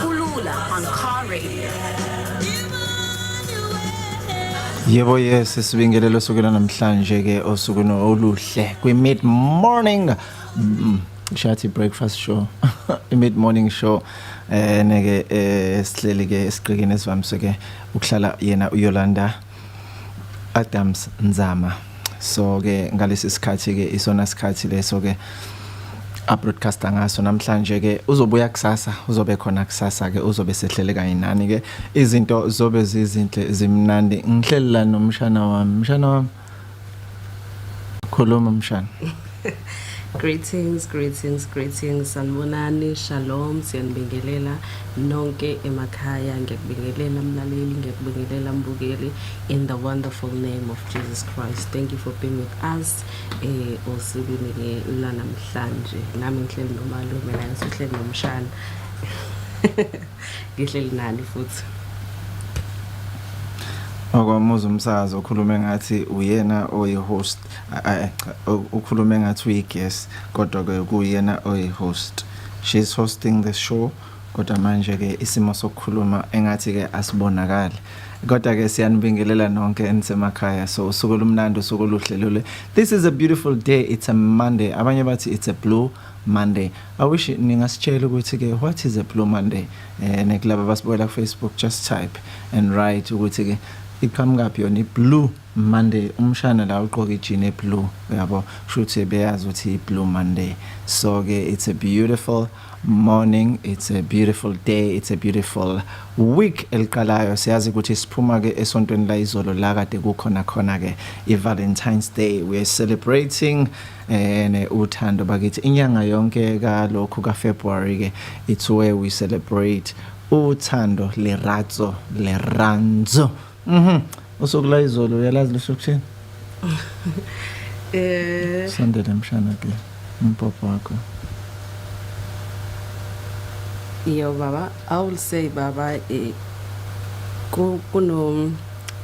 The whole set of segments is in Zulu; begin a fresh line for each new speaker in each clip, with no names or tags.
Kulula on Car Radio. Yebo yes sibingelelo sukela namhlanje ke osuku no oluhle kwi mid morning mm, shathi breakfast show i mid morning show eh neke eh sihleli ke esiqikini esivamise ke ukuhlala yena uYolanda Adams Nzama so ke ngalesi sikhathi ke isona sikhathi leso ke a broadcaster ngaso namhlanje ke uzobuya kusasa uzobe khona kusasa ke uzobe sehlele kanye nani ke izinto zobe zizinhle zimnandi ngihlelelana nomshana wami mshana wami Khuluma mshana.
Greetings, greetings, greetings. Sanibonani, shalom, siyanibingelela nonke emakhaya. Ngiyakubingelela mlaleli, ngiyakubingelela mbukeli in the wonderful name of Jesus Christ. Thank you for being with us. Eh osukwini ke lanamhlanje. Nami ngihleli nomalume la ngihleli nomshana. ngihleli
nani futhi okwamuza umsakazi okhulume ngathi uyena oyi-host ukhulume ngathi uyi-guest kodwa-ke kuyena oyi-host she's hosting the show kodwa manje-ke isimo sokukhuluma engathi-ke asibonakali kodwa-ke siyanibingelela nonke enisemakhaya so usuku olumnandi usuku oluhle lule this is a beautiful day it's a monday abanye bathi it's a blue Monday. I wish ningasitshela ukuthi ke what is a blue Monday eh nekulaba basibukela ku Facebook just type and write ukuthi ke iqhamukaphi yona iblue Monday umshana la ugqoka ijini eblue uyabo kushuthi beyazi ukuthi iblue Monday so ke it's a beautiful morning it's a beautiful day it's a beautiful week eliqalayo siyazi ukuthi siphuma ke esontweni la izolo la kade kukhona khona ke i Valentine's Day we are celebrating uh, ene uthando bakithi inyanga yonke kalokhu ka February ke it's where we celebrate uthando leratso leranzo mhm usuku la izolo uyalazi lusho kuthini eh sandele mshana ke umpapa wakho
yo baba i will say baba eh kuno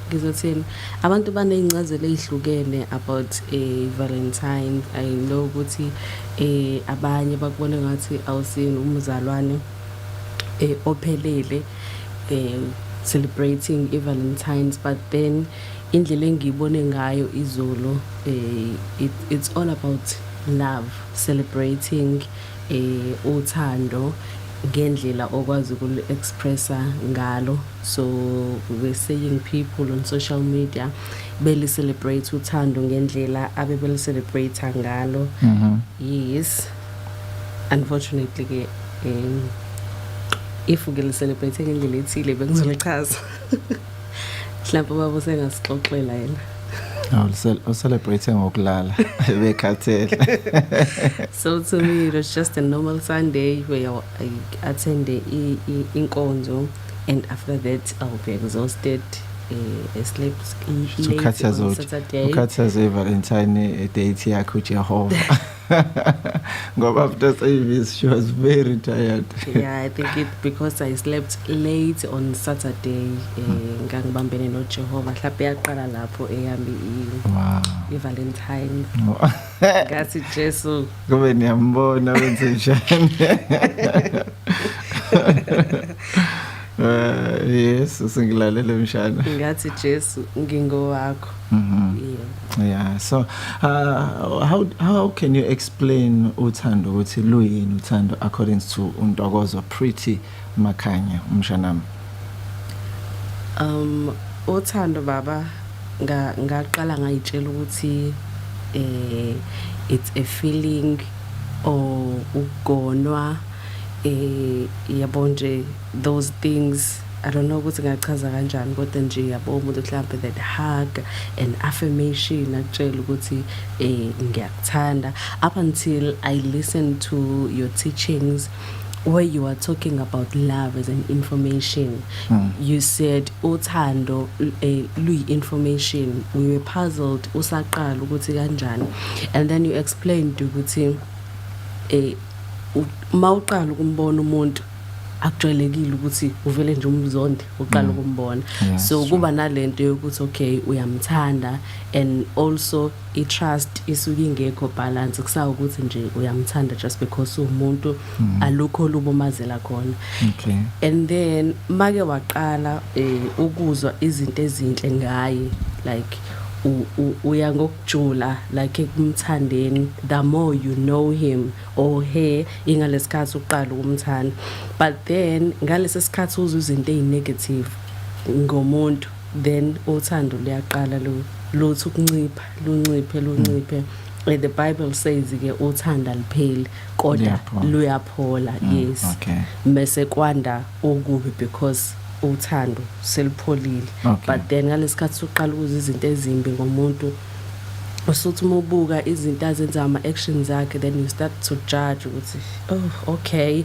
ngizothini abantu baney'ncazelo ey'hlukene about eh, valentine i know ukuthi eh, abanye bakubona ngathi awusini umzalwane eh, ophelele eh, celebrating i-valentines but then indlela engiyibone ngayo izolo eh, it, it's all about love celebrating uthando ngendlela okwazi ukulu expressa ngalo so we're seeing people on social media beli celebrate uthando ngendlela abe beli celebrate ngalo mm -hmm. yes unfortunately ke um, if ke li celebrate ngendlela ethile bengizolichaza mhlawumbe baba usengasixoxela yena Aw,
uselebrate ngokulala bekhathele.
So to me it was just a normal Sunday where I attend inkonzo and after that I'll be exhausted eh, sleep ukhathaza ivalentine
eh, date yakhe ujehova ngoba after service she was very tired yeah i think it
because i slept late on saturday eh, hmm. ngangibambene nojehova mhlawumbe yaqala lapho eyami i-valentine Ngathi Jesu. Kube niyambona
wenze njani? Eh yes singilalele mshana. Ngathi Jesu
ngingowakho. Mhm. Yeah.
Yeah. So uh, how how can you explain uthando ukuthi luyini uthando according to untokozo pretty Makhanya, Umshanami. Um
uthando baba nga ngaqala ngayitshela ukuthi eh it's a feeling or ugonwa eh yabo nje those things I don't know ukuthi ngachaza kanjani kodwa nje yabo umuntu mhlambe that hug and affirmation akutshela ukuthi eh ngiyakuthanda up until I listen to your teachings where you are talking about love as an information mm. you said uthando eh, luyi-information we were puzzled usaqala ukuthi kanjani and then you explained ukuthi eh uma uqala ukumbona umuntu akujwayelekile ukuthi uvele nje umzonde uqala mm. ukumbona so kuba nalento yokuthi okay uyamthanda and also i-trust isuke ingekho balance kusawukuthi nje uyamthanda just because umuntu mm. alukho lubomazela khona okay and then make waqala eh, ukuzwa izinto ezinhle ngaye like uya ngokujula like ekumthandeni the more you know him or her ingalesikhathi uqala ukumthanda but then ngalesi sikhathi uzwa izinto ezinegative ngomuntu then uthando luyaqala lu luthi ukuncipha lunciphe lunciphe mm. the bible says ke uthanda lipheli kodwa luyaphola mm. yes okay. mese
kwanda
okubi because uthando selipholile okay. but then ngalesikhathi sokuqala ukuza izinto ezimbi ngomuntu usuthi uma ubuka izinto azenza ama-actions akhe then you start to judge ukuthi oh okay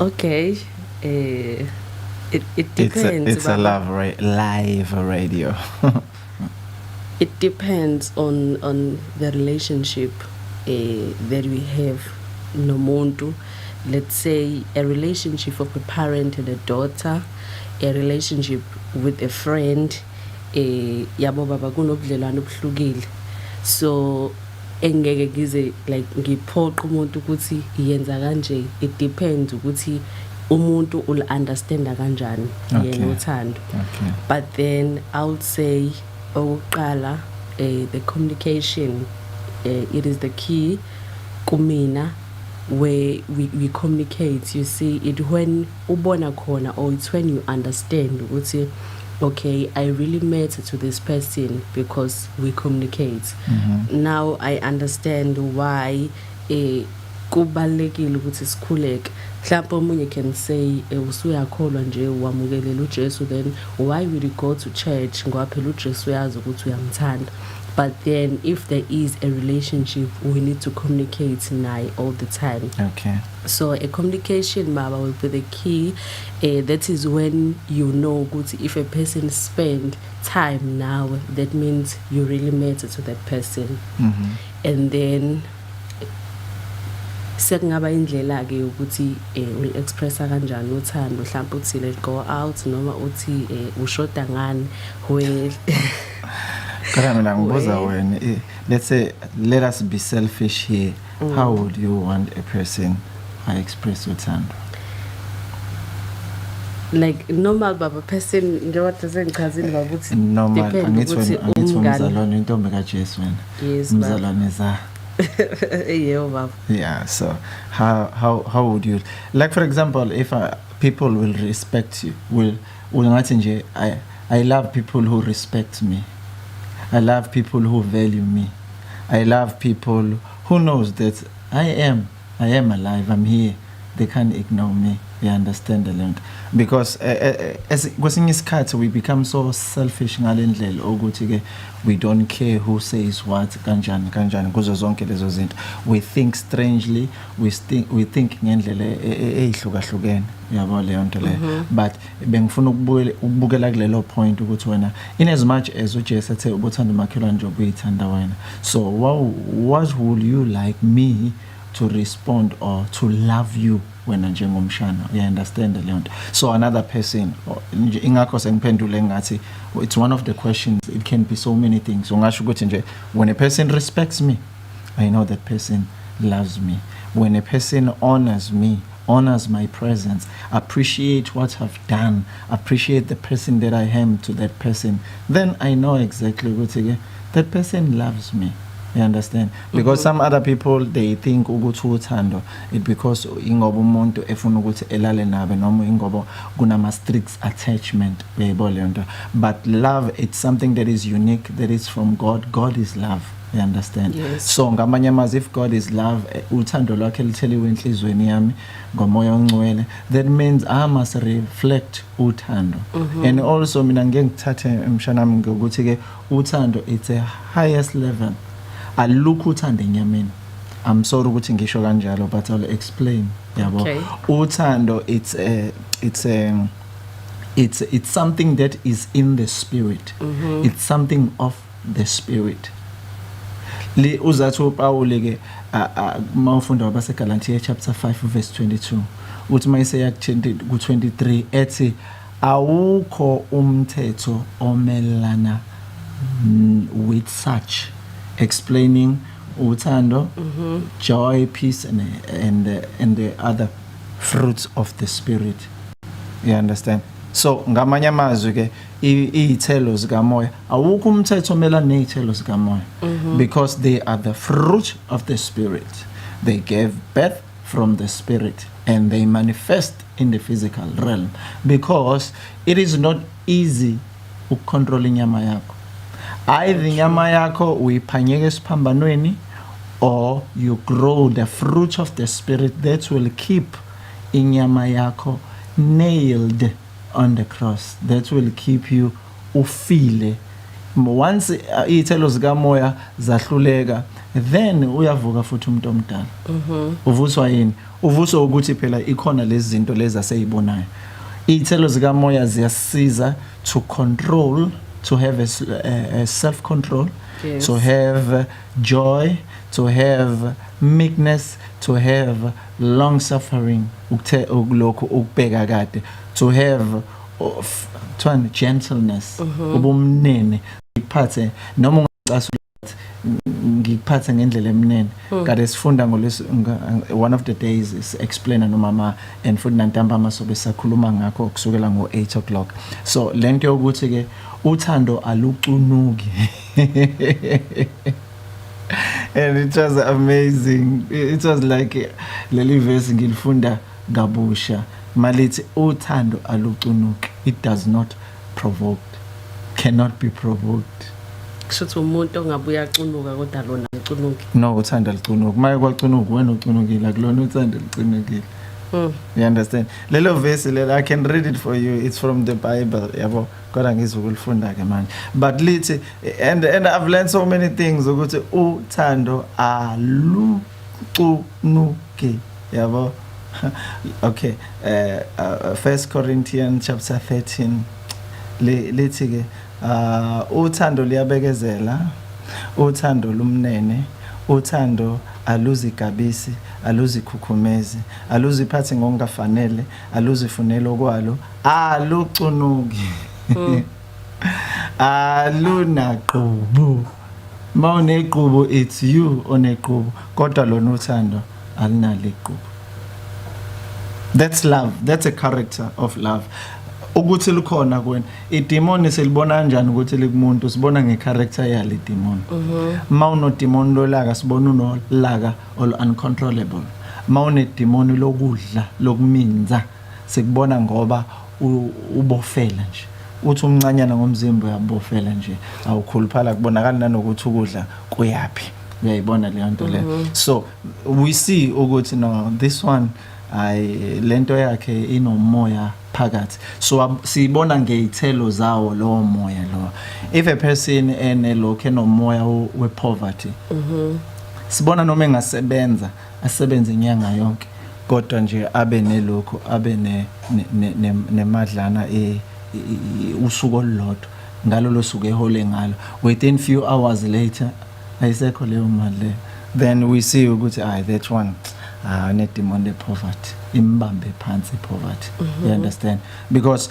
okay eh it, it depends it's a, it's a love ra
live radio
it depends on on the relationship uh, that we have nomuntu let's say a relationship of a parent and a daughter a relationship with a friend eh yabo baba kunobudlelwane obuhlukile so engeke ngize like ngiphoqe umuntu ukuthi yenza kanje it depends ukuthi umuntu ul understanda kanjani yena uthando but
then i
would say okuqala eh the communication eh, it is the key kumina where we, we communicate you see it when ubona khona or it's when you understand ukuthi okay i really matter to this person because we communicate mm -hmm. now i understand why eh kubalekile ukuthi sikhuleke mhlawumbe omunye can say eh, usuyakholwa nje wamukelela uJesu then why will you go to church ngoba phela uJesu uyazi ukuthi uyamthanda but then if there is a relationship we need to communicate naye all the time okay so
a
communication mama will be the key uh, that is when you know ukuthi if a person spend time nawe that means you really matter to that person mm -hmm. and then sekungaba indlela ke ukuthi eh, ul expressa kanjani uthando mhlawumbe uthi let go out noma uthi eh, ushoda ngani well Kana mina ngibuza
wena eh, let's say let us be selfish here mm. how would you want a person i express uthando
like normal baba person njengoba sesengichazile baba ukuthi normal angithi wena
angithi umzalwane intombi kaJesu wena umzalwane
za yebo baba yeah so how
how how would you like for example if I, uh, people will respect you will Ungathi nje I, I love people who respect me. I love people who value me. I love people who knows that I am I am alive. I'm here. They can't ignore me. They understand the link because eh, eh, eh, as kwesinye isikhathi we become so selfish ngalendlela ukuthi ke we don't care who says what kanjani kanjani kuzo zonke lezo zinto we think strangely we think we think ngendlela eyihlukahlukene yabo leyo nto leyo mhm. but bengifuna ukubukela kulelo point ukuthi wena in as much as ujesu ethe ubuthanda umakhelwane nje ubuyithanda wena so what would you like me to respond or to love you wena njengomshana uyaunderstand leyo nto so another person ingakho sengiphendule ngathi it's one of the questions it can be so many things ungasho ukuthi nje when a person respects me i know that person loves me when a person honors me Honours my presence, appreciate what I've done, appreciate the person that I am to that person. Then I know exactly ukuthi ke that person loves me. You understand? Because some other people they think ukuthi uthando it because ingoba umuntu efuna ukuthi elale nabe noma ingoba kunama strict attachment uyayibona leyo nto but love it's something that is unique that is from god god is love you understand yes. so ngamanye
amazwi if
god is love eh, uthando lwakhe lutheliwe enhlizweni yami ngomoya ongcwele that means i must reflect uthando mm -hmm. and also mina ngeke ngithathe emshanami ngokuthi ke uthando it's a highest level alukho uthando enyameni I'm sorry ukuthi ngisho kanjalo but I'll explain yabo okay. uthando
it's
a it's a it's it's something that is in the spirit mm -hmm. it's something of the spirit li uzathi uPawule ke uma ufunda wabase Galatia chapter 5 verse 22 uthi mayise yak 20 ku 23 ethi awukho umthetho omelana with such explaining uthando mm -hmm. joy peace and, and, the, and the other fruits of the spirit you understand so ngamanye amazwi ke iy'thelo zikamoya awukho umthetho omelana ney'thelo zikamoya mhm. because they are the fruit of the spirit they gave birth from the spirit and they manifest in the physical realm because it is not easy ukucontrola inyama yakho either inyama yakho uyiphanyeka esiphambanweni or you grow the fruit of the spirit that will keep inyama yakho nailed on the cross that will keep you ufile once uh, iy'thelo zikamoya zahluleka then uyavuka futhi umuntu omdala mhm. uvuswa yini Uvuso ukuthi phela ikhona lezi zinto lezi aseyibonayo. Iy'thelo zikamoya ziyasiza to control to have a, a, a self control yes. to have joy to have meekness to have long suffering ukuthe ukulokho ukubheka kade to have of, gentleness uh mhm. -huh. ubumnene iphathe noma ungacasula ngikuphathe ngendlela emnene hmm. kade sifunda ngolesi one of the days is explain nomama and futhi nantambama sobe sakhuluma ngakho kusukela ngo 8 o'clock so lento yokuthi ke uthando alucunuki and it was amazing it was like leli verse ngilifunda kabusha malithi uthando alucunuki it does not provoked cannot be provoked kushuthi
umuntu ongabuya acunuka kodwa lona acunuki no uthanda licunuka
maye kwacunuka wena ucunukile akulona uthanda licinukile Mm. You understand? Lelo verse lelo I can read it for you. It's from the Bible. Yabo. Kodwa ngizokulifunda ke manje. But lithi and and I've learned so many things ukuthi uthando alu kucunuke yabo okay eh uh, uh, first corinthian chapter 13 lithi ke uh, uthando liyabekezela uthando lumnene uthando aluzigabisi aluzikhukhumezi aluziphathi ngokungafanele aluzifuneli okwalo alucunuki mm. alunaqhubu ma unegqubu it's you onegqubu kodwa lona uthando alunalo igqubu that's love that's a character of love ukuthi likhona kuwena idemon silibona kanjani ukuthi likumuntu sibona ngecharacter yalo idemon mhm. ma unodemon lolaka sibona unolaka ol uncontrollable ma unedemon lokudla lokuminza sikubona ngoba ubofela nje uthi umncanyana ngomzimba uyabofela nje awukhuluphala kubonakala nanokuthi ukudla kuyaphi uyayibona leyo nto le mhm. so we see ukuthi no this one hayi lento yakhe inomoya phakathi so siyibona ngeyithelo zawo lowo moya lo if a person ene lokho enomoya we poverty mhm. sibona noma engasebenza asebenze inyanga yonke kodwa nje abe nelokhu abe nemadlana e, e, e, usuku olulodwa ngalolo suku ehole ngalo within few hours later ayisekho leyo mali leyo then we see ukuthi ay that one ah nedemon le poverty imbambe phansi poverty you mhm. understand because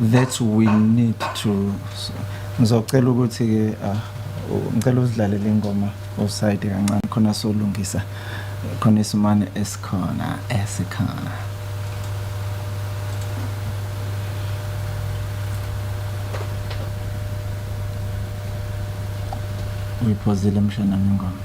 that we need to ngizocela ukuthi ke ah, ngicela uzidlalele ingoma offside kancane khona solungisa khona isimane esikhona esikhona uyiphozile mshana ngengoma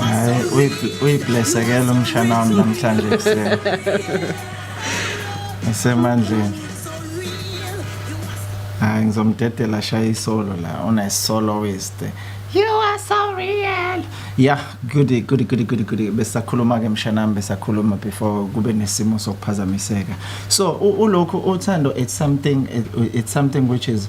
Hayi uyiblessa ke lo
mshana wami namhlanje ekuseni. Esemandleni. Hayi ngizomdedela shaya isolo la una solo weste. You are so real. Yeah, good good good good good besakhuluma ke mshanami besakhuluma before kube nesimo sokuphazamiseka. So ulokho uthando it's something it's something which is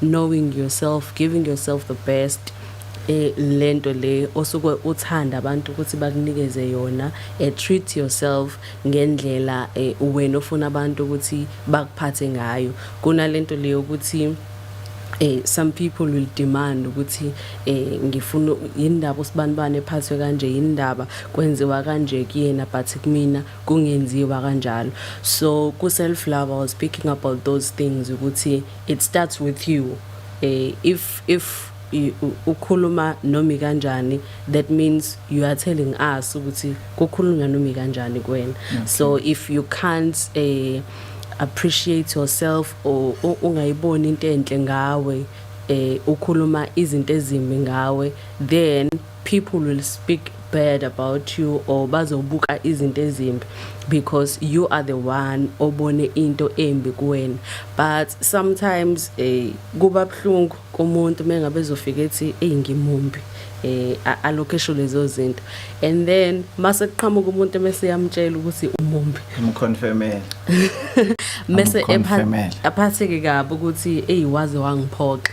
knowing yourself giving yourself the best eh lento le osuke uthanda abantu ukuthi bakunikeze yona eh, treat yourself ngendlela eh, wena ofuna abantu ukuthi bakuphathe ngayo kunalento leyo ukuthi eh some people will demand ukuthi eh ngifuna yindaba usibanibane ephathwe kanje yindaba kwenziwa kanje kuyena but kumina kungenziwa kanjalo so ku self love i was speaking about those things ukuthi it starts with you eh, if if ukhuluma nomi kanjani that means you are telling us ukuthi kukhulunywa nomi kanjani kuwena okay. so if you can't eh, appreciate yourself or ungayiboni into enhle ngawe eh ukhuluma izinto ezimbi ngawe then people will speak bad about you or bazobuka izinto ezimbi because you are the one obone into embi kuwena but sometimes eh kuba buhlungu kumuntu mengabe ezofika ethi hey ngimumbi eh alokho esho lezo zinto and then mase kuqhamuka umuntu mase yamtshela ukuthi umumbi imconfirmela mase ephatheke kabi ukuthi hey waze wangiphoxa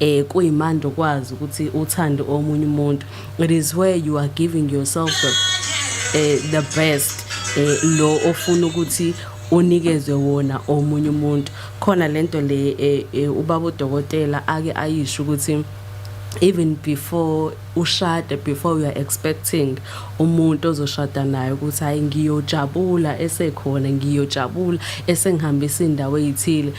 eh kuyimandi ukwazi ukuthi uthande omunye umuntu it is where you are giving yourself the, eh, the best eh, lo ofuna ukuthi unikezwe wona omunye umuntu khona lento le eh, eh, ubaba udokotela ake ayisho ukuthi even before ushade before you are expecting umuntu ozoshada naye ukuthi hayi ngiyojabula esekhona ngiyojabula esengihambisa indawo ezithile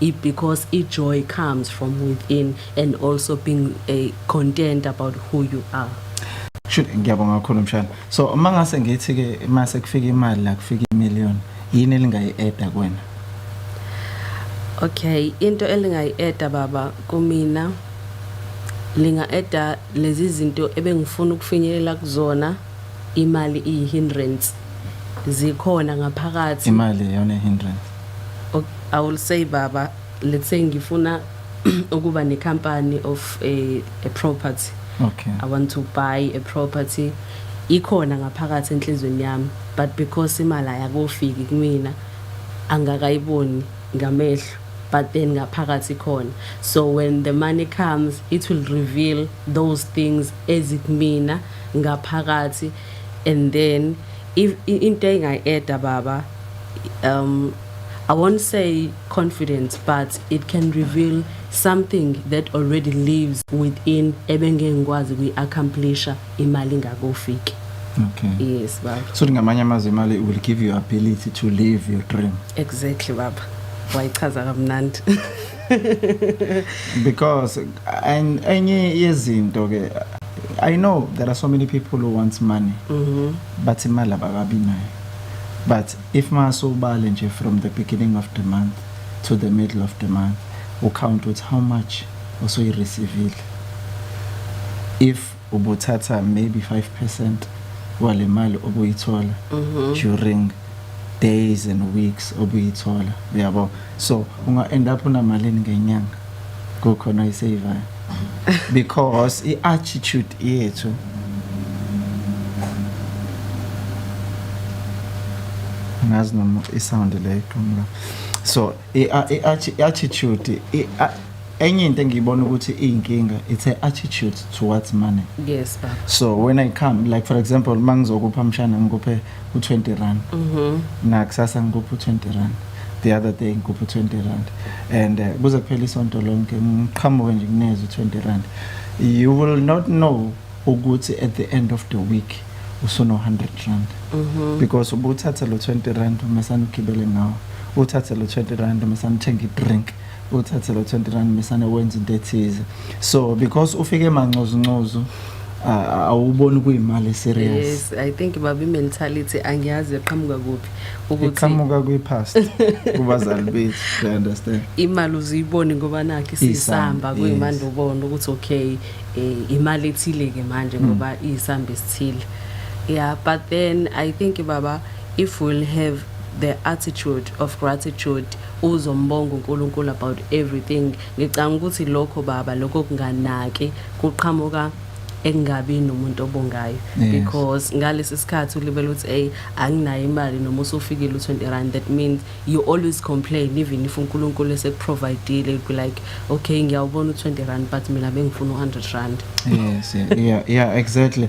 Because i joy comes from within and also being a eh, content about who you are. Should ngiyabonga
kakhulu mshana. So uma ngase ngithi ke mase kufika imali la kufika i million yini elingayi add kwena? Okay,
into elingayi add baba kumina linga eda lezi zinto ebengifuna ukufinyelela kuzona imali iyi hindrance zikhona ngaphakathi imali yona hindrance
I
will say baba let's say ngifuna ukuba ne company of a, a property okay i want
to buy a
property ikhona ngaphakathi enhlizweni yami but because imali ayakofiki kumina angakayiboni ngamehlo but then ngaphakathi khona so when the money comes it will reveal those things ezikumina ngaphakathi and then if into engayi-eda baba um, I won't say confidence, but it can reveal something that already lives within ebengengikwazi kuyi-accomplisha imali ingakofiki okay
yes baba so
ngamanye amazwi imali
will give you ability to live your dream exactly baba
wayichaza kamnandi
because and enye yezinto ke i know there are so many people who want money mm -hmm. but imali abakabi nayo But if mase ubale nje from the beginning of the month to the middle of the month, ucount ukuthi how much osoyireceivile. If ubuthatha maybe 5% wale mali obuyithola mhm. during days and weeks obuyithola uyabo so unga end up unamalini ngenyanga kukhona oyisaver because i attitude yethu ngazi noma isound le iqhamuka so i attitude enye into engiyibona ukuthi iyinkinga it's a attitude towards money yes baba so
when i come
like for example mangizokupha mshana ngikuphe u20 rand mhm nakusasa ngikuphi u20 rand the other day ngikuphi u20 rand and uh, kuze kuphela isonto lonke ngiqhamuke nje kunezwe u20 rand you will not know ukuthi at the end of the week usuno 100 rand mhm because ubuthatha lo 20 rand uma sanugibele ngawo uthathe lo 20 rand uma sanuthenga i drink uthathe lo 20 rand misane wenza into ethize so because ufike emancozincozo awuboni kuyimali serious yes i think babi
mentality angiyazi eqhamuka kuphi ukuthi iqhamuka kwi past
kubazali bethu i understand imali uziyiboni
ngoba nakhe sisamba kuyimanje ubona ukuthi okay eh, imali ethile ke manje hmm. ngoba isamba esithile yeah but then i think baba if we'll have the attitude of gratitude uzombonga uNkulunkulu about everything ngicanga ukuthi lokho baba lokho kunganaki kuqhamuka engabi nomuntu obongayo because ngalesi sikhathi ulibele ukuthi hey anginayo imali noma usufikile u20 rand that means you always complain even if uNkulunkulu esekuprovidile be like okay ngiyawubona u20 rand but mina bengifuna u100 rand
yes yeah yeah exactly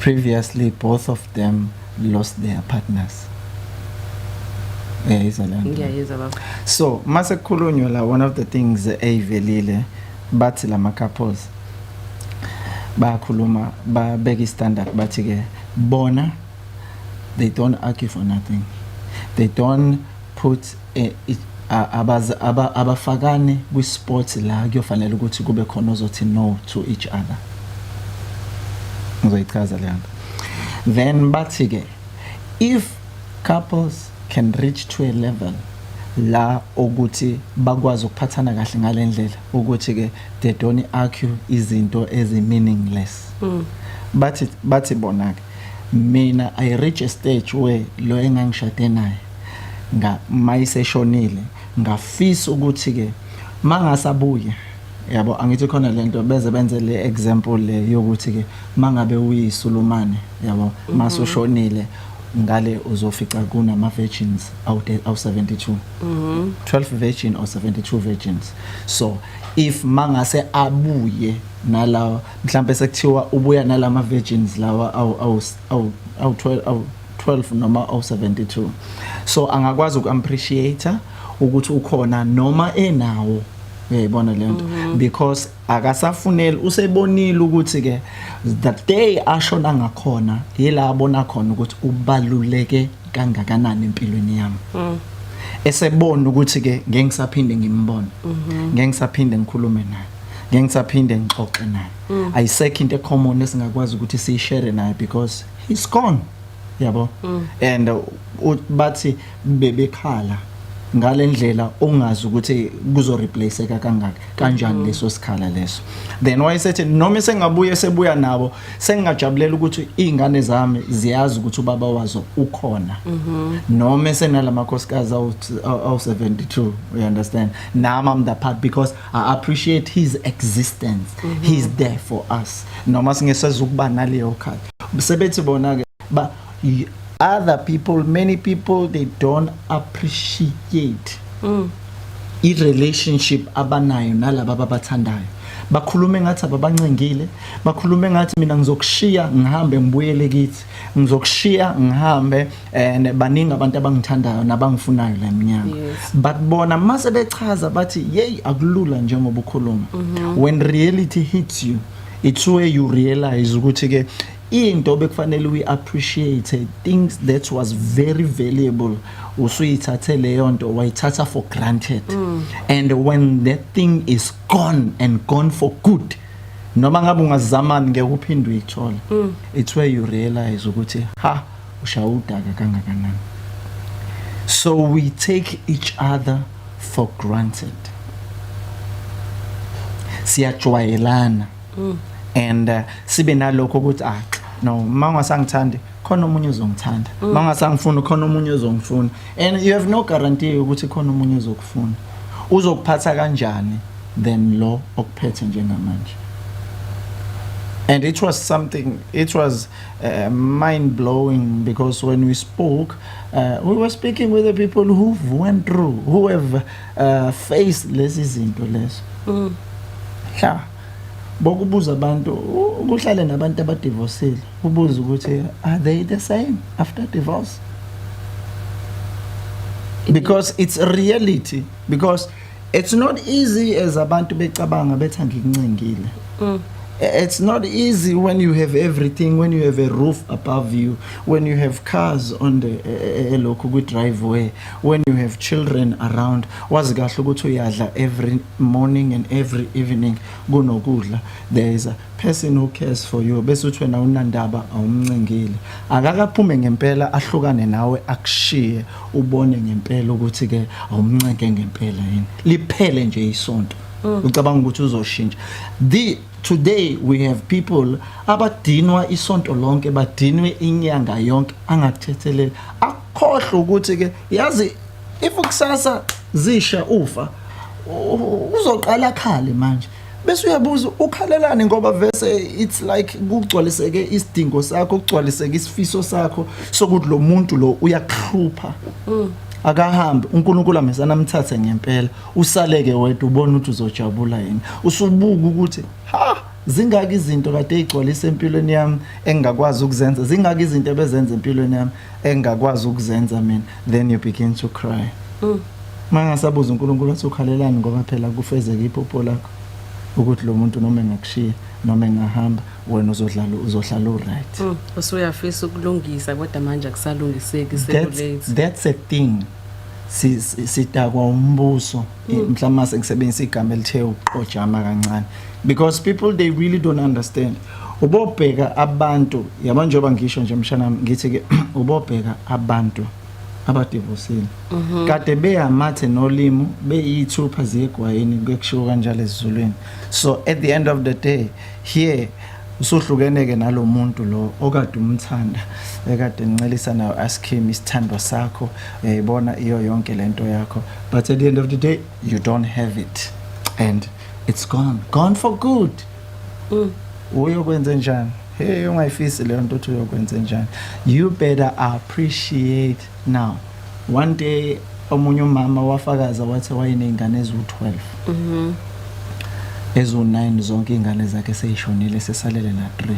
previously both of them lost their partners uyayizwa leyo ngiyayizwa baba so mase kukhulunywa la one of the things eyivelile bathi lama couples bayakhuluma babeka istandard bathi ke bona they don't argue for nothing they don't put eh, abafakani kwi-sport la kuyofanele ukuthi kube khona ozothi no to each other ngizoyichaza leyo nto then bathi-ke if couples can reach to a level la ukuthi bakwazi ukuphathana kahle ngale ndlela ukuthi-ke they don't argue izinto ezi-meaningless mm. bathi bathi bona-ke Mina I reach a stage where lo engangishade naye nga mayiseshonile ngafisa ukuthi ke mangasabuye yabo angithi khona lento beze benze le example le yokuthi ke mangabe uyisulumane yabo mhm. masushonile ngale uzofica kunama virgins awu 72 mhm 12 virgin or 72 virgins so if mangase abuye nalawa mhlambe sekuthiwa ubuya nalama virgins lawa awu awu awu awu 12 awu 12 noma awu 72 so angakwazi uku appreciate ukuthi ukhona noma enawo uyayibona le nto mhm. because akasafuneli usebonile ukuthi ke the day ashona ngakhona yila abona khona ukuthi ubaluleke kangakanani empilweni yami mm. esebona ukuthi ke ngeke ngisaphinde ngimbone mhm. ngeke ngisaphinde ngikhulume naye ngeke ngisaphinde ngixoxe naye mm. ayisekho into ecommon esingakwazi ukuthi siyishare naye because he's gone yabo mm. and uh, bathi bebekhala ngalendlela ongazi ukuthi kuzo replaceeka kangaka kanjani mm. leso sikhala leso then wayesethi noma sengabuye sebuya nabo sengingajabulela ukuthi izingane zami ziyazi ukuthi ubaba wazo ukhona mm-hmm. noma senalamakhosikazi awu 72 you understand nama i'm the part because I appreciate his existence mm -hmm. he's there for us noma singeseza ukuba naleyo khaya sebethi bona ke ba other people many people they don't appreciate mm. i relationship abanayo nalabo ababathandayo bakhulume ngathi ababancengile bakhulume ngathi mina ngizokushiya ngihambe ngibuyele kithi ngizokushiya ngihambe and baningi abantu abangithandayo nabangifunayo la mnyama yes. but bona mase bechaza bathi yey akulula njengoba ukhuluma mm -hmm. when reality hits you it's where you realize ukuthi ke into bekufanele uyi appreciate things that was very valuable usuyithathe leyo nto wayithatha for granted mm. and when that thing is gone and gone for good noma ngabe ungazamani ngeke uphinde uyithole mm. it's where you realize ukuthi ha ushaya udaka kangakanani so we take each other for granted siyajwayelana mm. and uh, sibe nalokho ukuthi ah no mama sangithandi khona omunye ozongithanda mm. uma ngasangifuni khona omunye ozongifuna and you have no guarantee ukuthi khona omunye ozokufuna uzokuphatha kanjani than lo okuphethe njengamanje and it was something it was uh, mind blowing because when we spoke uh, we were speaking with the people who went through who have uh, faced lezi zinto lezo mm. yeah bokubuza abantu ukuhlale nabantu abadivosile ubuze ukuthi are they the same after divorce because it's a reality because it's not easy as abantu becabanga bethi angikuncengile mm. it's not easy when you have everything when you have a roof above you when you have cars on the elokhu eh, eh, eh, kwi driveway when you have children around wazi kahle ukuthi uyadla every morning and every evening kunokudla there is a person who cares for you bese uthi wena unandaba awumncengile akakaphume ngempela ahlukane nawe akushiye ubone ngempela ukuthi ke awumncenge ngempela yini liphele nje isonto mm. ucabanga ukuthi uzoshintsha the today we have people abadinwa isonto lonke badinwe inyanga yonke angakuthetheleli khohlwa ukuthi ke yazi if kusasa zisha ufa u- uzoqala khale manje bese uyabuza ukhalelani ngoba vese it's like kugcwaliseke isidingo sakho kugcwaliseke isifiso sakho sokuthi lo muntu lo uyakuhlupha akahambe unkulunkulu amesana amthathe ngempela usaleke wedwa ubona ukuthi uzojabula yini usubuka ukuthi ha zingaki izinto kade igcwalisa empilweni yami engingakwazi ukuzenza zingaki izinto ebezenza empilweni yami engakwazi ukuzenza mina then you begin to cry mm. mangasabuza uNkulunkulu athi ukhalelani ngoba phela kufezeke iphupho lakho ukuthi lo muntu noma engakushiya noma engahamba wena uzodlala uzohlala uright mm, usuyafisa
ukulungisa kodwa manje akusalungiseki sekulate that's a thing
sitakwa umbuso Mm. mhlawumbe uma sengisebenzisa igama elithe uxojama kancane because people they really don't understand ubobheka abantu yabo njengoba ngisho nje mshanami ngithi ke ubobheka abantu abadivosile mhm. kade beyamathe nolimu beyithupha ziyegwayini bekushiwo kanjalo esizulwini so at the end of the day here Usuhlukene-ke nalo muntu lo okade umthanda ekade nincelisa nayo askim isithandwa sakho uyayibona iyo yonke le nto yakho but at the end of the day you don't have it and it's gone gone for good mm. uyokwenze njani hey ungayifisi leyo nto uthi uyokwenze njani you better appreciate Now one day omunye umama wafakaza wathi wayenezingane eziwu12 mhm ezu9 zonke izingane zakhe seyishonile sesalele la 3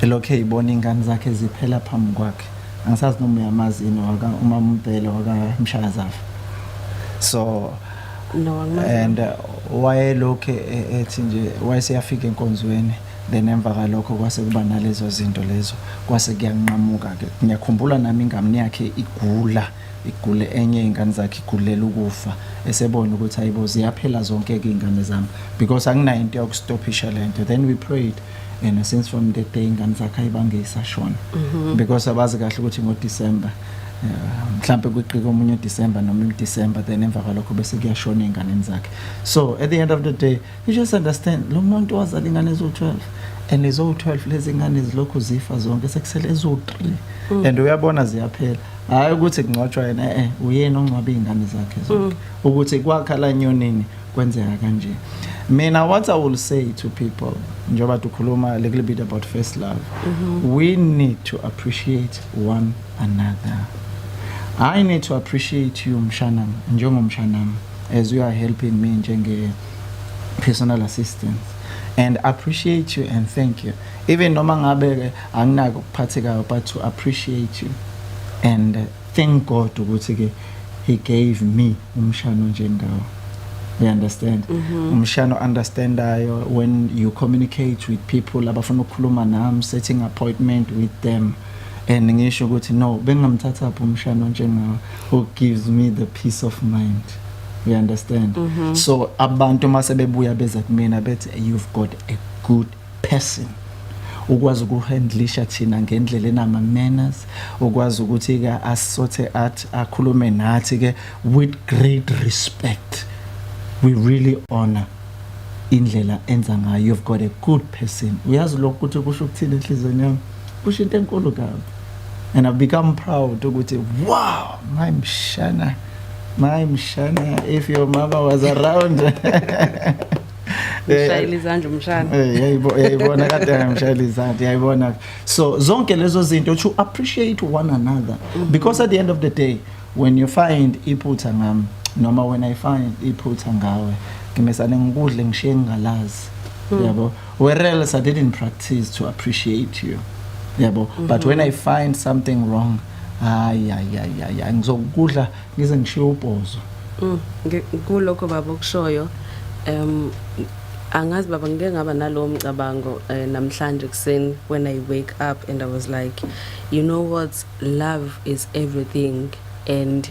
elokhe eyibona ingane zakhe ziphela phambi kwakhe angisazi noma uyamazi yini waka uma umbhele waka mshakazafa so no
and uh,
wayelokhe e-, ethi nje wayeseyafika enkonzweni then emva kalokho kwase kuba nalezo zinto lezo kwase kuyanqamuka ke ngiyakhumbula nami ingane yakhe igula igule enye ingane zakhe igulela ukufa esebona ukuthi hayibo ziyaphela zonke ke ingane zami because anginayo into yokustopisha lento then we prayed and since from that day ingane zakhe ayibange isashona mhm. because abazi kahle ukuthi ngo December mhlambe kwiqika omunye uDecember noma uDecember then emva kwalokho bese kuyashona ezinganeni zakhe so at the end of the day You just understand lo muntu wazala ingane eziwu-12 and eziwu-12 lezi ngane zilokhu zifa zonke sekusele eziwu-3 mm. and uyabona ziyaphela hhayi ukuthi kungcwatshwa yena e-e eh, uyena ongcwabe iy'ngane zakhe zonke mm. ukuthi kwakha la nyonini kwenzeka kanje mina what i will say to people njengoba dukhuluma a little bit about first love mm -hmm. we need to appreciate one another i need to appreciate you mshanam njengomshanam as you are helping me njenge personal assistance and appreciate you and thank you even noma ngabe ke anginako ukuphathekayo but to appreciate you and uh, thank God ukuthi ke he gave me umshano njengawo you understand mm -hmm. umshano understandayo when you communicate with people abafuna ukukhuluma nami setting appointment with them and ngisho ukuthi no bengingamthathaphi umshana njengawe who gives me the peace of mind you understand mm -hmm. so abantu uma sebebuya beza kumina bethi you've got a good person ukwazi ukuhandlisha thina ngendlela enama manners ukwazi ukuthi ke asothe athi akhulume nathi ke with great respect we really honor indlela enza ngayo you've got a good person uyazi lokho ukuthi kusho ukuthini enhlizweni yami kusho into enkulu kabi and i've become proud ukuthi wow my mshana my mshana if your mama was around ushayela
izandla umshana yayibona
kade ngimshayela izandla yayibona so zonke lezo zinto to appreciate one another mm-hmm. because at the end of the day when you find iphutha ngami noma when i find iphutha ngawe ngimesane ngikudle ngishiye ngingalazi mm. yabo whereas i didn't practice to appreciate you yabo mm -hmm. but when i find something wrong hayi ayayaya ngizokudla ngize ngishiye ubhozo mm,
kulokho baba okushoyo um angazi baba ngike ngaba nalowo mcabango uh, namhlanje kuseni when i wake up and i was like you know what love is everything and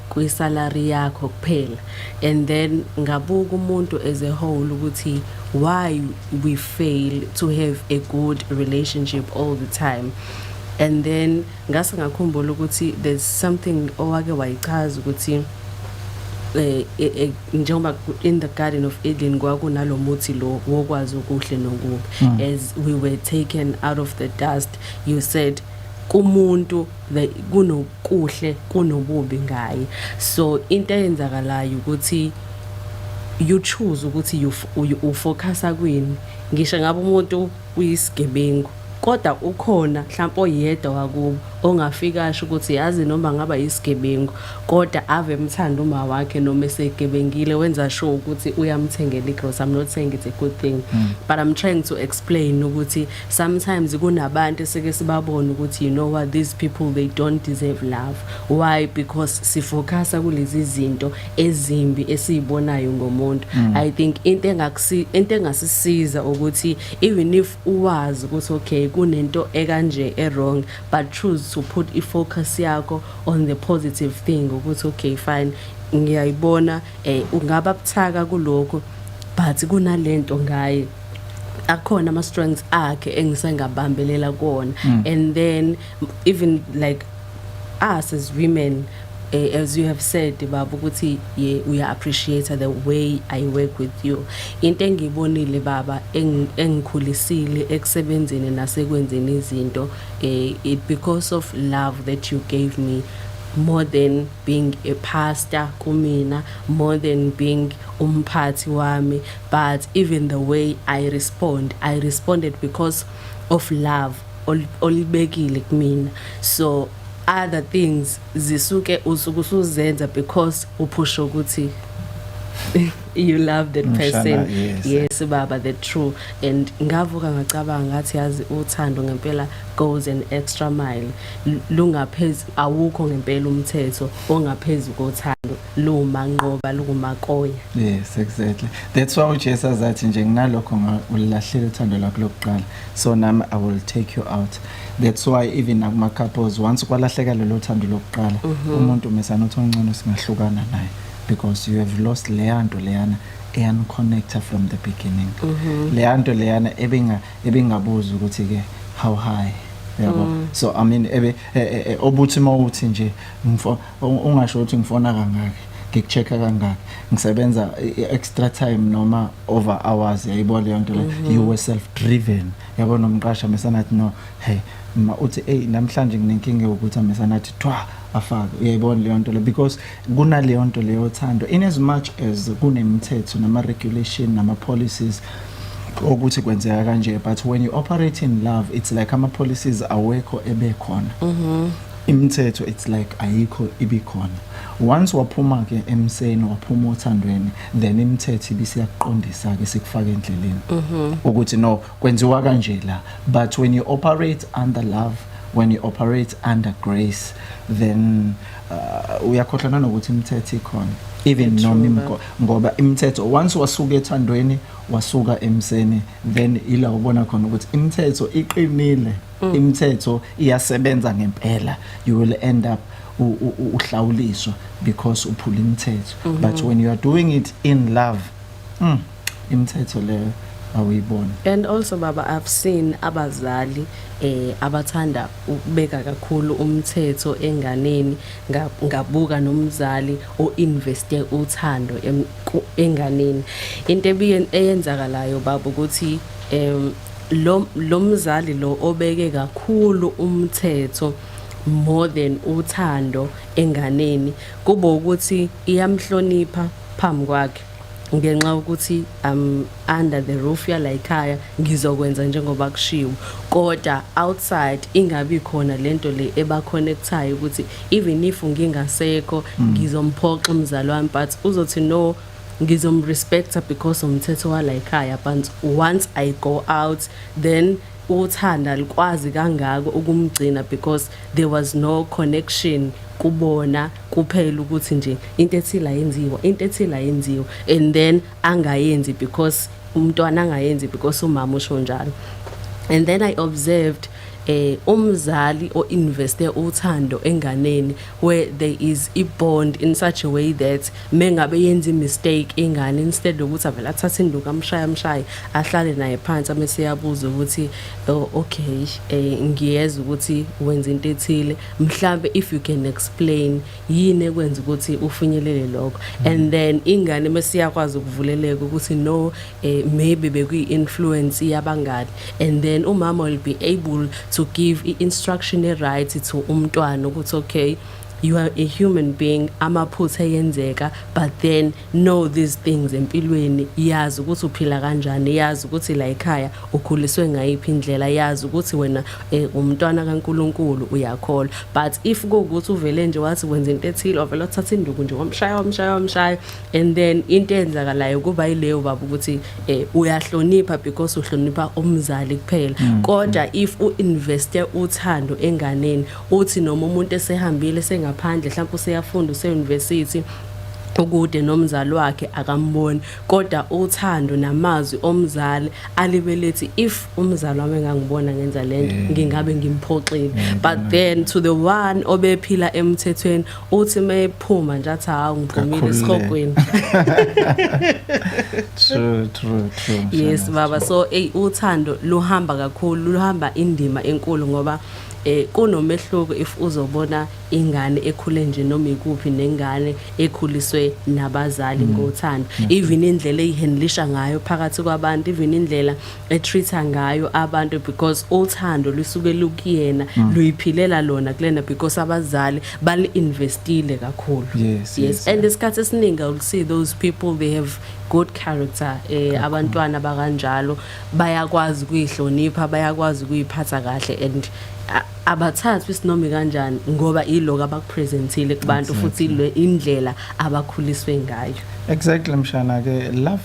kwi salary yakho kuphela and then ngabuka umuntu as a whole ukuthi why we fail to have a good relationship all the time and then ngase ngakhumbula ukuthi there's something owake wayichaza ukuthi eh, eh, eh njengoba in the garden of Eden kwakunalomuthi lo wokwazi okuhle nokubi hmm. as we were taken out of the dust you said kumuntu the kunokuhle kunobubi ngaye so into eyenzakalayo ukuthi you choose ukuthi ufocusa kwini ngisho ngabe umuntu uyisigebengu kodwa ukhona mhlawumbe oyedwa wakubo ongafika asho ukuthi yazi noma ngaba yisigebengu kodwa ave emthanda uma wakhe noma esegebengile wenza sure ukuthi uyamthengela igross i'm not saying it's a good thing mm. but i'm trying to explain ukuthi sometimes kunabantu esike sibabona ukuthi you know what these people they don't deserve love why because sifocusa kulezi zinto ezimbi esizibonayo ngomuntu mm. i think into engakusi into engasisiza ukuthi even if uwazi ukuthi okay kunento ekanje ewrong but choose to put i focus yakho on the positive thing ukuthi okay fine ngiyayibona eh ungaba buthaka kuloko but kunalento ngaye akhona ama strengths akhe engisengabambelela kuona mm. and then even like us as women eh, as you have said baba ukuthi ye uya appreciate the way i work with you into engibonile baba engikhulisile ekusebenzeni nasekwenzeni izinto eh, it because of love that you gave me more than being a pastor kumina more than being umphathi wami but even the way i respond i responded because of love olibekile kumina so other things zisuke usuke usuzenza because uphusha ukuthi you love that person yes, yes baba the true and ngavuka ngacabanga ngathi yazi uthando ngempela goes an extra mile lungaphezulu awukho ngempela umthetho ongaphezulu kothando luma nqoba lukumakoya yes exactly
that's why uJesu azathi nje nginalokho ngulahlele uthando lakho lokuqala so nami i will take you out that's why even nakuma couples once kwalahleka lelo thando lokuqala mhm. umuntu mesana uthi ongcono singahlukana naye because you have lost leya nto leyana eyaniconnecta from the beginning mhm. leya nto leyana ebinga ebingabuza ukuthi ke how high yabo mm. so i mean ebe e, e, e, obuthi mawuthi nje mfo Ungasho ukuthi ngifona kangaki ngikucheck-a kangaki ngisebenza i-extra time noma over hours yayibo leyo nto leyo mhm. you were self driven yabo nomqasha mesanathi no hey ma uthi eyi namhlanje nginenkinga yokuthi amesanathi thwa afake uyayibona leyo nto le because kunaleyo nto leyo thando in as much as kunemithetho nama-regulation nama-policies ukuthi kwenzeka kanje but when you operate in love it's like ama-policies awekho ebekhona mm -hmm. imithetho it's like ayikho ibikhona once waphuma ke emseni waphuma othandweni then imithetho ibisiyakuqondisa ke sikufaka endleleni mhm. ukuthi no kwenziwa kanje la but when you operate under love when you operate under grace then uh, uyakhohlwa nanokuthi imithetho ikhona even noma imko ngoba imithetho once wasuka ethandweni wasuka emseni then ila ubona khona ukuthi imithetho iqinile mm. imithetho iyasebenza ngempela you will end up uhlawuliswa because uphula imithetho mm -hmm. but when you are doing it in love mm, imithetho leyo awuyibona and also baba
i've seen abazali eh abathanda ukubeka kakhulu umthetho enganeni ngabuka nomzali o investe uthando enganeni into ebiyenzakalayo baba ukuthi em lo lo mzali lo obeke kakhulu umthetho more than uthando enganeni kube ukuthi iyamhlonipha phambi kwakhe ngenxa ukuthi um under the roof yalayikhaya ngizokwenza njengoba kushiwo kodwa outside ingabi khona lento le eba connectayo ukuthi even if ngingasekho ngizomphoxa umzali wami but uzothi no ngizomrespecta because umthetho walayikhaya but once i go out then uthanda likwazi kangako ukumgcina because there was no connection kubona kuphela ukuthi nje into ethile ayenziwa into ethile ayenziwa and then angayenzi because umntwana angayenzi because umama usho njalo and then i observed eh umzali oinveste uthando enganeni where there is a bond in such a way that mengabe yenza imistake ingane instead ukuthi avele athathe induku amshaya amshaye ahlale naye phansi amese yabuza ukuthi oh, okay eh, ngiyeza ukuthi wenza into ethile mhlambe if you can explain yini ekwenza ukuthi ufinyelele lokho mm. and then ingane mese yakwazi ukuvuleleka ukuthi no eh, maybe bekuyi-influence yabangani and then umama will be able to give i-instruction e-right to umntwana ukuthi okay you are a human being amaphutha eyenzeka but then know these things empilweni yazi ukuthi uphila kanjani yazi ukuthi la ekhaya ukhuliswe ngayiphi indlela yazi ukuthi wena eh, umntwana kaNkuluNkulu uyakholwa but if kuwukuthi uvele nje wathi wenza into ethile ovela uthatha induku nje wamshaya wamshaya wamshaya and then into eyenzakalayo kuba yileyo baba ukuthi eh uyahlonipha because uhlonipha umzali kuphela mm. kodwa if u investe uthando enganeni uthi noma umuntu esehambile sengaphandle mhlawumbe useyafunda use university ukude nomzali wakhe akamboni kodwa uthando namazwi omzali alibelethi if umzali wami engangibona ngenza lento mm. ngingabe ngimphoxile mm, but mm. then to the one obephila emthethweni uthi mephuma nje athi hawu ngiphumile esikogweni
true true true yes
baba so ey uthando luhamba kakhulu luhamba indima enkulu ngoba eh kunomehluko if uzobona ingane ekhule nje noma ikuphi nengane ekhuliswe nabazali mm. ngothando mm. even indlela eyihandlisha ngayo phakathi kwabantu even indlela etreatha ngayo abantu because uthando lusuke lukuyena mm. luyiphilela lona kulena because abazali bali investile kakhulu yes, yes, yes. and
isikhathi esiningi
will see those people they have good character eh abantwana bakanjalo bayakwazi kuyihlonipha bayakwazi kuyiphatha kahle and abathathwa isinomi kanjani ngoba iloko abakupresentile kubantu futhi indlela abakhuliswe ngayo exactly mshana
ke love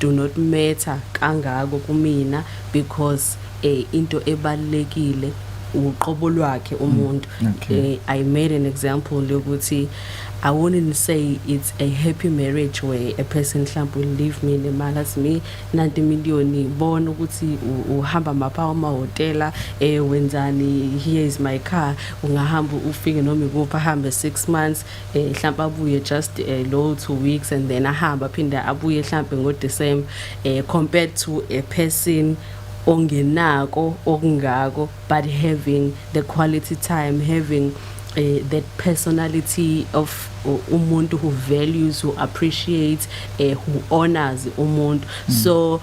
do not matter kangako kumina because eh, into ebalulekile uqobo lwakhe umuntu Mm, okay. eh, i made an example lokuthi i wouldn't say it's a happy marriage where a person mhlawumbe will leave me nemali athi mi nanti imiliyoni bona ukuthi u- uhamba mapha amahhotela um wenzani here is my car ungahamba ufike noma ikuphi ahambe six months eh mhlawumbe abuye just eh, low two weeks and then ahambe aphinde abuye mhlawumbe ngo December eh compared to a person ongenako okungako but having the quality time having uh, that personality of uh, umuntu who values who appreciates uh, who honors umuntu mm. so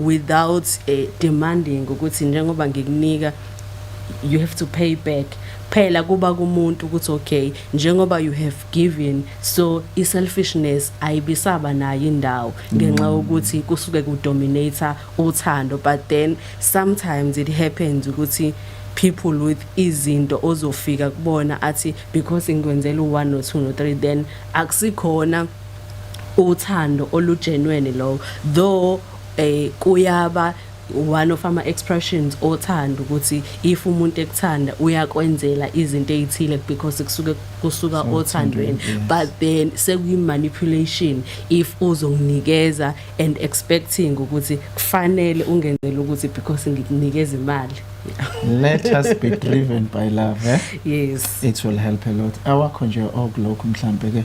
without uh, demanding ukuthi njengoba ngikunika you have to pay back phela kuba kumuntu ukuthi okay njengoba you have given so i selfishness ayibisaba nayo indawo ngenxa mm. ukuthi kusuke ku dominator uthando but then sometimes it happens ukuthi people with izinto ozofika kubona athi because ngikwenzela u1 no 2 no 3 then akusikhona uthando olujenweni lowo though eh kuyaba one of ama expressions othanda ukuthi if umuntu ekuthanda uyakwenzela izinto ezithile because kusuke kusuka othandweni but then sekuyi manipulation if uzonginikeza and expecting ukuthi kufanele ungenzele ukuthi because ngikunikeza imali let
us be driven by love eh? yes it will
help a lot
awakho nje okulokhu mhlambe ke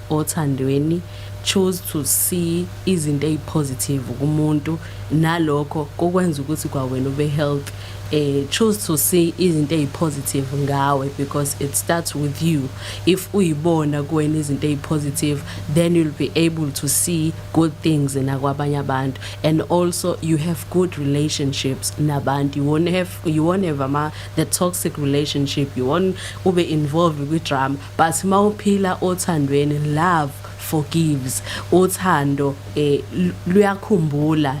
othandweni choose to see izinto ezipositive kumuntu nalokho kokwenza ukuthi kwawena ube healthy eh choose to see izinto ezipositive ngawe because it starts with you if uyibona kuwena izinto ezipositive then you'll be able to see good things nakwabanye abantu and also you have good relationships nabantu you won't have you won't have ama the toxic relationship you won't ube involved with drama But mawuphila othandweni love forgives uthando eh, luyakhumbula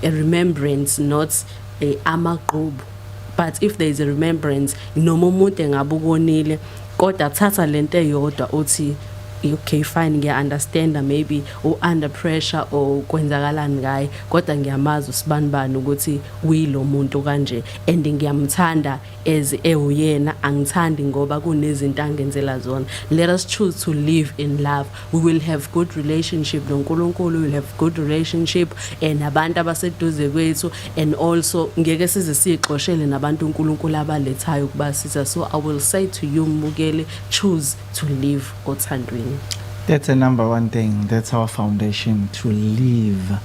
a remembrance not eh, amagqubu but if there is a remembrance noma umuntu engabe ukonile kodwa thatha lento eyodwa uthi okay fine ngiya understand maybe u under pressure or kwenzakalani ngaye kodwa ngiyamazi usibanibani ukuthi uyilomuntu kanje and ngiyamthanda as ewuyena angithandi ngoba kunezinto angenzela zona let us choose to live in love we will have good relationship noNkulunkulu will have good relationship and eh, abantu abaseduze kwethu and also ngeke size sixoshele nabantu uNkulunkulu abalethayo ukuba siza so i will say to you mbukeli choose to live othandweni that's a number
one thing that's our foundation to live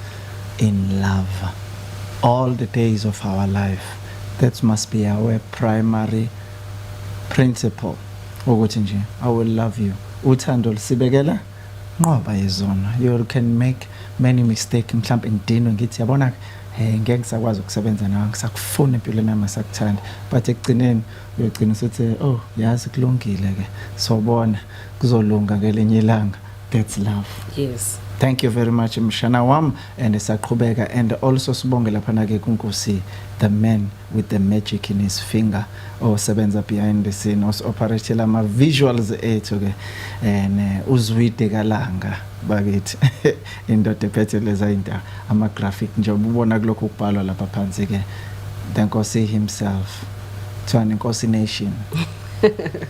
in love all the days of our life That must be our primary principle ukuthi nje I will love you. Uthando lusibekela nqoba izono. You can make many mistake mhlawumbe ngidinwe ngithi yabona eh ngeke ngisakwazi ukusebenza nawe ngisakufuna empilweni yami sakuthanda but ekugcineni uyogcina usuthi oh yazi kulungile ke sobona kuzolunga ngelinye ilanga that's love yes thank
you very much
mshana wam and saqhubeka and also sibonge laphana ke kunkosi the man with the magic in his finger osebenza behind the scene osi-operate lama visuals ethu ke and eh, uzwide kalanga bakithi indoda ephethe leza indawo ama graphic njengoba ubona kulokho kubhalwa lapha phansi ke the nkosi himself kuthiwani nkosi nation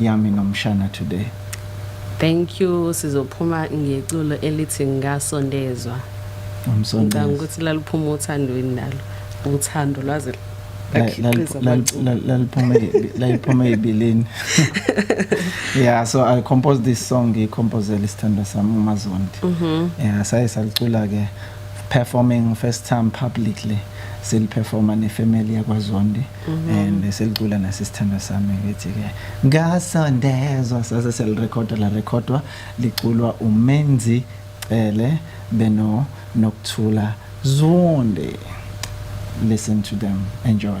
Yami nomshana today. Thank
you sizophuma ngeculo elithi ngasondezwa. Umsondezwa.
Ngicanga ukuthi laliphuma
uthandweni nalo. Uthando lwaze
laliphuma ebilini yeah so i composed this song ngiyikhompozela isithandwa sami umazondi mm-hmm. yeah saye salicula ke performing first time publicly siliperforma nefamily yakwazondi Mhm. and bese licula nasisithandwa sami ngithi-ke ngasondezwa sase selirekhoda larekhodwa liculwa umenzi cele beno nokuthula zonde listen to them enjoy